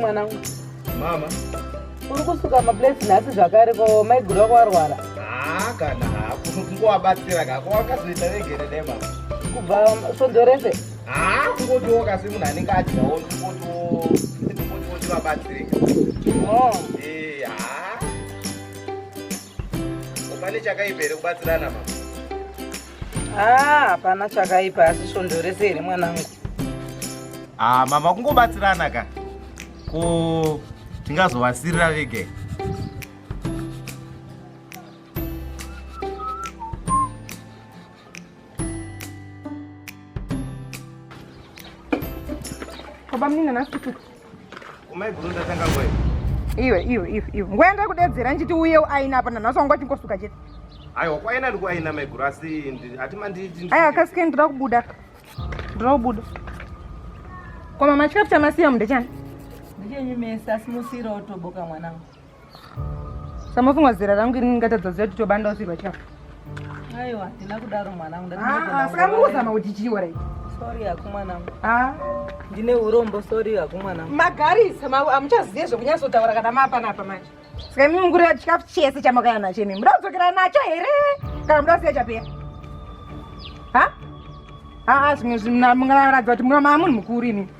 mwanangu mama uri kusuka maplates nhasi zvakare ko maiguru vako varwara haa kana hakunokungovabatsira kako wakazoita vegere nemama kubva svondo rese haa ah, kungotiwoka semunhu anenge adyawo ndikotiwotivabatsirika oh. eh, haa pane chakaipa here kubatsirana mama haa ah, hapana chakaipa asi svondo rese here mwanangu haa ah, mama kungobatsirana ka ko tingazovasirira vege Baba mnini nasi kutuka. Umai guru ndatanga ngwe. Iwe iwe iwe iwe. Ngwe enda kudedzera nchiti uye aina apa nanhasi wanga chingosuka chete. Aiwa kwaina ndiku aina mai guru asi ati manditi. Aya kasike ndira kubuda. Ndira kubuda. Kwa mama chikafu chamasiya mnde chani? Ndichenyu mesa simusira otoboka mwanangu. Samafungwa zera rangu ini ngatadza ziya kuti tobanda usirwa chafu. Aiwa, ndina kudaro mwana wangu. Ah, saka mukuzama kuti chiwa right. Sorry aku mwana wangu. Ah. Ndine urombo sorry aku mwana wangu. Magarisa, ma amuchaziye zvekunyasa kutaura kana mapa napa manje. Saka mimi mungurira chikafu chese chamakaya nacho imi. Muda kudzokera nacho here? Kana muda kusiya chapera? Ha? Ah, ah, zvimwe zvimwe mungaratidza kuti mwana munhu mukuru imi.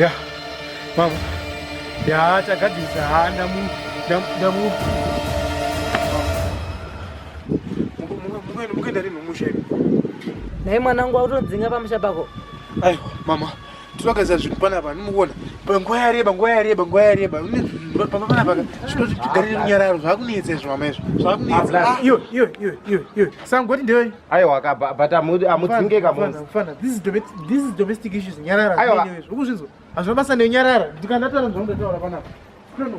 ya mama ya tagadzirisa ha ndamu ndamu mukuenda rinhu musha nhai mwanangu wautodzinga pamusha pako aiwa mama ndinogadzira zvinhu panapa ndinokuona panguva yareba nguva yareba nguva yareba pamba panapa zvinoti tigarire runyararo zvakunetsa izvo mama izvo zvakunetsa ah, ah. iwe iwe iwe iwe iwe sangoti ndewe aiwa ka but amudzinge kamufanafana this is this is domestic issues nyarara aiwa ukuzvinzwa hazvina basa nenyarara ndikandataura ndondotaura panapa no no